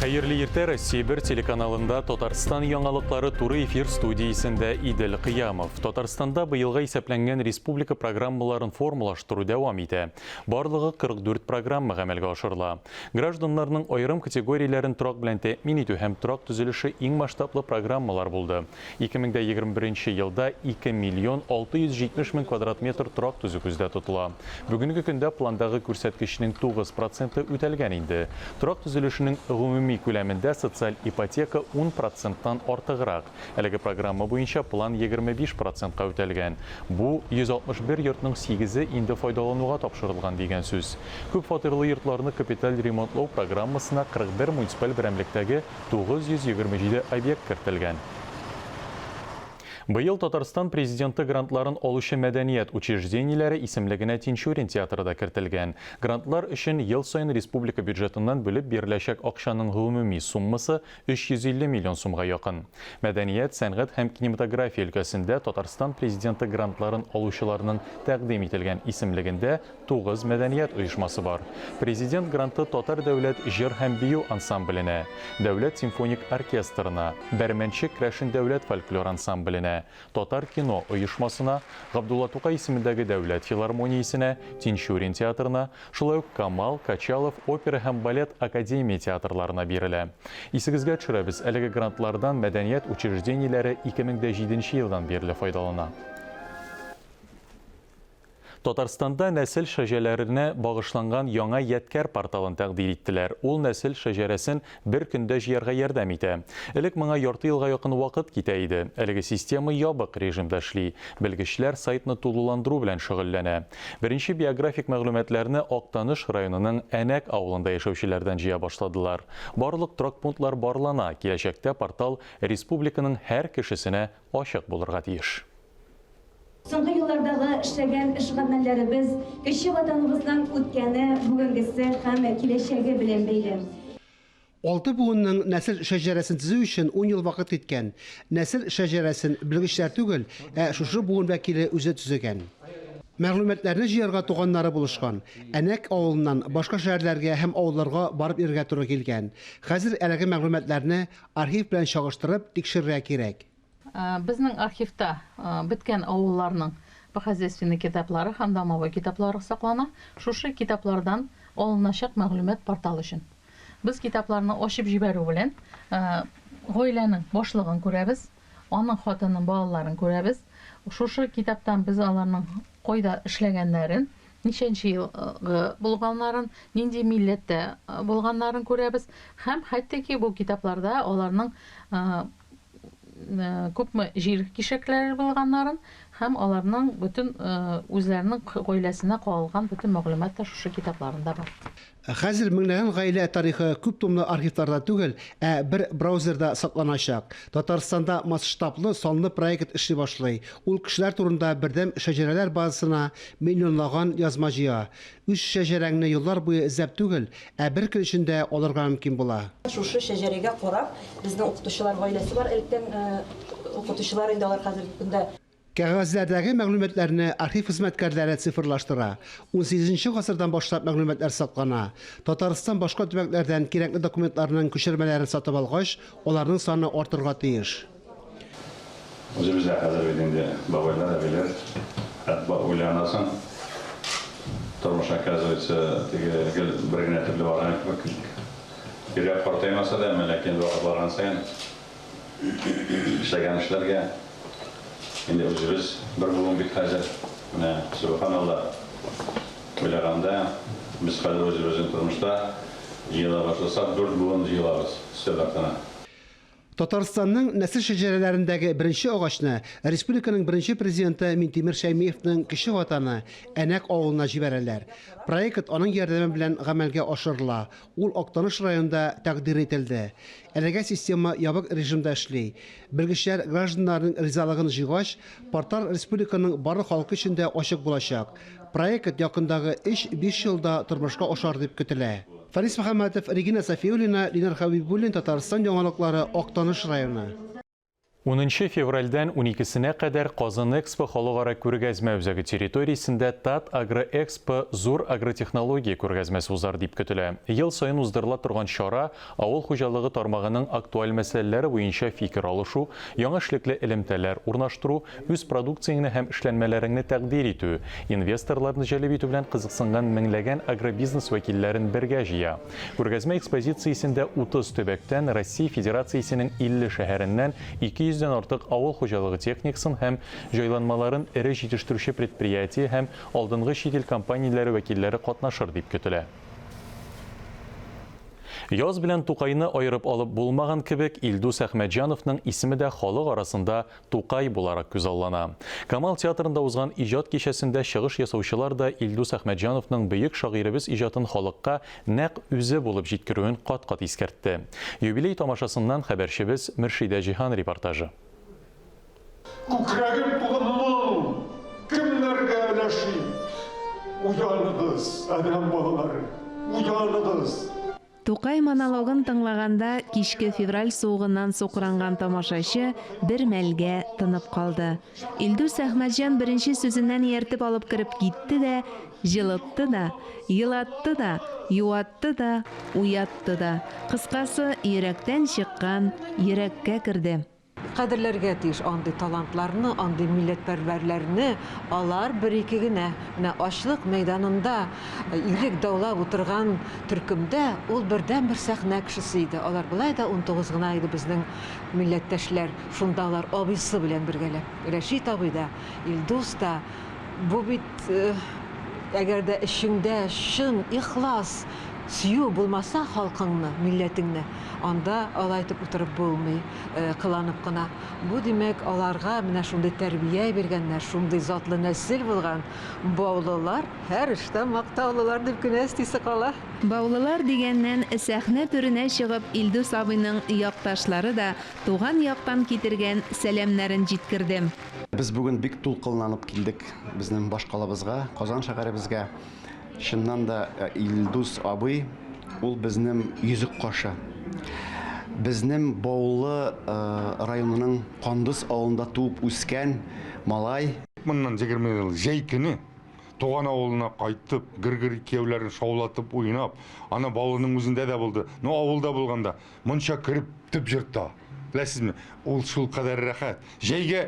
Хәерле иртә Россия бер телеканалында Татарстан яңалыклары туры эфир студиясендә Идел Кыямов. Татарстанда быелга исәпләнгән республика программаларын формалаштыру дәвам итә. Барлыгы 44 программа гамәлгә ашырыла. Гражданнарның аерым категорияләрен торак белән тәэмин итү һәм торак төзелеше иң масштаблы программалар булды. Ике мең дә егерме беренче елда ике миллион алты йөз җитмеш мең квадрат метр торак төзү күздә тотыла. Бүгенге көндә пландагы күрсәткечнең тугыз проценты үтәлгән инде. Торак төзелешенең гомуми күләмендә социаль ипотека ун проценттан артыграк. Әлеге программа буенча план егерме биш процентка үтәлгән. Бу, йөз алтмыш бер йортның сигезе инде файдалануга тапшырылган дигән сүз. Күпфатирлы йортларны капиталь ремонтлау программасына кырык бер муниципаль берәмлектәге 927 объект кертелгән. Быел Татарстан Президенты грантларын алучы мәдәният учреждениеләре исемлегенә Тинчурин театры да кертелгән. Грантлар өчен ел саен республика бюджетыннан бүлеп биреләчәк акчаның гомуми суммасы 350 миллион сумга якын. Мәдәният, сәнгать һәм кинематография өлкәсендә Татарстан Президенты грантларын алучыларның тәкъдим ителгән исемлегендә Тугыз мәдәният оешмасы бар. Президент гранты Татар дәүләт җыр һәм бию ансамбленә, Дәүләт симфоник оркестрына, Бәрмәнче Крәшен дәүләт фольклор ансамбленә, Татар кино оешмасына, Габдулла Тукай исемендәге дәүләт филармониясенә, Тинчурин театрына, шулай ук Камал, Качалов опера һәм балет академия театрларына бирелә. Исегезгә төшерәбез, әлеге грантлардан мәдәният учреждениеләре ике мең дә җиденче елдан бирле файдалана. Татарстанда нәсел шәҗәләренә багышланган яңа ядкәр порталын тәкъдир иттеләр. Ул нәсел шәҗәрәсен бер көндә җыярга ярдәм итә. Элек моңа ярты елга якын вакыт китә иде. Әлеге система ябык режимда эшли. Белгечләр сайтны тулыландыру белән шөгыльләнә. Беренче биографик мәгълүматларны Актаныш районының Әнәк авылында яшәүчеләрдән җыя башладылар. Барлык торак пунктлар барлана, киләчәктә портал республиканың һәр кешесенә ачык булырга тиеш. Соңгы еллардагы эшләгән эш-гамәлләребез кече Ватаныбызның үткәне, бүгенгесе һәм киләчәге белән бәйле. Алты буынның нәсел шәҗәрәсен төзү өчен ун ел вакыт киткән. Нәсел шәҗәрәсен белгечләр түгел, ә шушы буын вәкиле үзе төзегән. Мәгълүматларны җыярга туганнары булышкан. Әнәк авылыннан башка шәһәрләргә һәм авылларга барып йөрергә туры килгән. Хәзер әлеге мәгълүматларны архив белән чагыштырып тикшерергә кирәк. Безнең архивта беткән авылларның хозяйственный китаплары һәм домовой китаплары саклана. Шушы китаплардан алыначак мәгълүмат портал өчен. Без китапларны ачып җибәрү белән гаиләнең башлыгын күрәбез, аның хатынын, балаларын күрәбез. Шушы китаптан без аларның кайда эшләгәннәрен, ничәнче елгы булганнарын, нинди милләттә булганнарын күрәбез һәм хәтта ки бу китапларда аларның күпме җир кишәкләре булганнарын һәм аларның бөтен үзләренең гаиләсенә кагылган бөтен мәгълүмат та шушы китапларында бар. Ә хәзер меңләгән гаилә тарихы күп томлы архивларда түгел, ә бер браузерда сакланачак. Татарстанда масштаблы, санлы проект эшли башлый. Ул кешеләр турында бердәм шәҗәрәләр базасына миллионлаган язма җыя. Үз шәҗәрәңне еллар буе эзләп түгел, ә бер көн эчендә алырга мөмкин була. Шушы шәҗәрәгә карап, безнең укытучылар гаиләсе бар, электән укытучылар инде алар хәзерге көндә. Кәгазьләрдәге мәгълүматларны архив хезмәткәрләре цифрлаштыра. Унсигезенче гасырдан башлап мәгълүматлар саклана. Татарстан башка төбәкләрдән кирәкле документларның күчермәләрен сатып алгач, аларның саны артырга тиеш. Үзебез дә хәзер бит инде бабайлар, әбиләр. Әтба уйланасың. Тормыш, оказывается, теге гел бер генә төрле барган кебек. Йөрәк картаймаса да, әмма ләкин вакыт барган саен эшләгән эшләргә инде үзебез бер буын бит хәзер. Менә, сөбханалла, уйлаганда, без хәзер үзебезнең тормышта җыела башласак, дүрт буын җыелабыз өстәл артына. Татарстанның нәсел шәҗәрәләрендәге беренче агачны республиканың беренче президенты Минтимер Шәймиевның кече ватаны Әнәк авылына җибәрәләр. Проект аның ярдәме белән гамәлгә ашырыла, ул Актаныш районында тәкъдир ителде. Әлегә система ябык режимда эшли. Белгечләр гражданнарның ризалыгын җыйгач, портал республиканың барлык халкы өчен дә ачык булачак. Проект якындагы өч-биш елда тормышка ашар дип көтелә. Фарис Мөхәммәтов, Регина Сафиуллина, Ленар Хәбибуллин, Татарстан яңалыклары, Актаныш районы. Унынчы февральдән уникесенә кадәр Казанэкспо халыкара күргәзмә үзәге территориясендә Татагроэкспо зур агротехнология күргәзмәсе узар дип көтелә. Ел саен уздырыла торган чара Авыл хуҗалыгы тармагының актуаль мәсьәләләре буенча фикер алышу, яңа эшлекле элемтәләр урнаштыру, үз продукцияңне һәм эшләнмәләреңне тәкъдир итү, инвесторларны җәлеп итү белән кызыксынган меңләгән агробизнес вәкилләрен бергә җыя. Күргәзмә экспозициясендә 30 төбәктән, Россия Федерациясенең 50 шәһәреннән 200 дән артык авыл хуҗалыгы техникасын һәм җайланмаларын эре җитештерүче предприятие һәм алдынгы чит ил компанияләре вәкилләре катнашыр дип көтелә. Яз белән Тукайны аерып алып булмаган кебек, Илдус Әхмәтҗановның исеме дә халык арасында Тукай буларак күзаллана. Камал театрында узган иҗат кичәсендә чыгыш ясаучылар да Илдус Әхмәтҗановның бөек шагыйребез иҗатын халыкка нәкъ үзе булып җиткерүен кат-кат искәртте. Юбилей тамашасыннан хәбәрчебез Мөршидә Җиһан репортажы. Күкрәгем тулы моң, кемнәргә өләшим? Уяныгыз, адәм балалары, уяныгыз! Тукай монологын тыңлаганда кичке февраль суыгыннан сукранган тамашачы бер мәлгә тынып калды. Илдус Әхмәтҗан беренче сүзеннән ияртеп алып кереп китте дә, җылытты да, елатты да, юатты да, уятты да. Кыскасы, йөрәктән чыккан йөрәккә керде. Кадерләргә тиеш андый талантларны, андый милләтпәрвәрләрне. Алар бер-ике генә. Менә ачлык мәйданында ирек даулап утырган төркемдә ул бердәнбер сәхнә кешесе иде. Алар болай да унтугыз гына иде безнең милләттәшләр. Шунда алар абыйсы белән бергәләп. Рәшит абый да, Илдус та. Бу бит, әгәр дә эчеңдә чын, ихлас сөю булмаса халкыңны, милләтеңне, анда алай итеп утырып булмый. кыланып кына, Бу, димәк, аларга менә шундый тәрбия биргәннәр, шундый затлы нәсел булган баулылар, һәр эштә мактаулылар, дип кенә эстисе кала. Баулылар дигәннән, сәхнә түренә чыгып, Илдус абыйның якташлары да туган яктан китергән сәламнәрен җиткерде. Без бүген бик дулкынланып килдек безнең башкалабызга, Казан шәһәребезгә. Чыннан да Илдус абый ул безнем йөзек кашы. Безнем Баулы районының Кандыз авылында туып үскән малай. Моннан егерме ел җәй көне туган авылына кайтып, гыргырый кияүләрен шаулатып уйнап, аны Баулының үзендә дә булды. Ну авылда булганда, монча кереп төп җырта. Беләсезме, ул шулкадәр рәхәт. Җәйгә.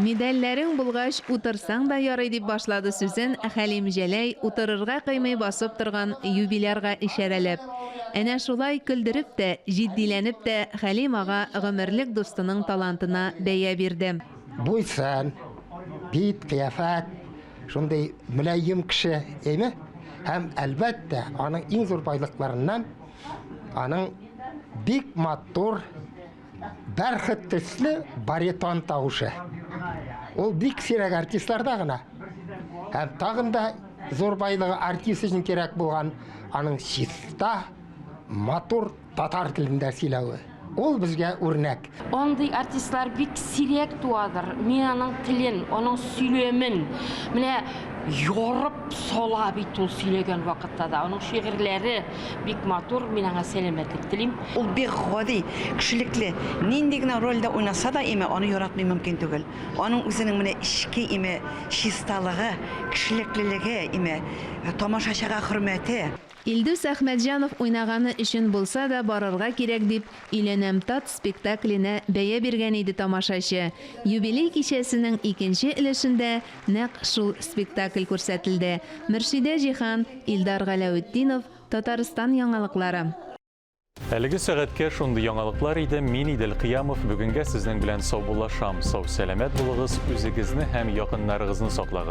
Медальләрең булгач, утырсаң да ярый, дип башлады сүзен Хәлим Җәләй, утырырга кыймый басып торган юбилярга ишарәләп. Әнә шулай, көлдереп тә, җитдиләнеп тә Хәлим ага гомерлек дустының талантына бәя бирде. Буй-сын, бит, кыяфәт, шундый мөлаем кеше име? Һәм, әлбәттә, аның иң зур байлыкларыннан, аның бик матур Бәрхет төсле баритон тавышы. Ул бик сирәк артистларда гына. Һәм тагын да зур байлыгы артист өчен кирәк булган аның чиста, матур татар телендә сөйләве. Ул безгә үрнәк. Андый артистлар бик сирәк туадыр. Мин аның телен, аның сөйләмен менә ярып сала бит ул сөйләгән вакытта да. Аның шигырьләре Бик матур, мин аңа сәламәтлек телим. Ул бик гади, кешелекле. Нинди генә рольдә уйнаса да име, аны яратмый мөмкин түгел. Аның үзенең менә эчке име чисталыгы, кешелеклелеге име, тамашачыга хөрмәте. Илдус Әхмәтҗанов уйнаганы өчен булса да барырга кирәк дип Өйләнәм тат спектакленә бәя биргән иде тамашачы. Юбилей кичәсенең икенче өлешендә Нәкъ шул спектакль күрсәтелде. Мөршидә Җиһан, Илдар Галәүетдинов, Татарстан яңалыклары. Әлеге сәгатькә шундый яңалыклар иде, мин Идел Кыямов бүгенгә сезнең белән саубуллашам, сау-сәламәт булыгыз, үзегезне һәм якыннарыгызны саклагыз.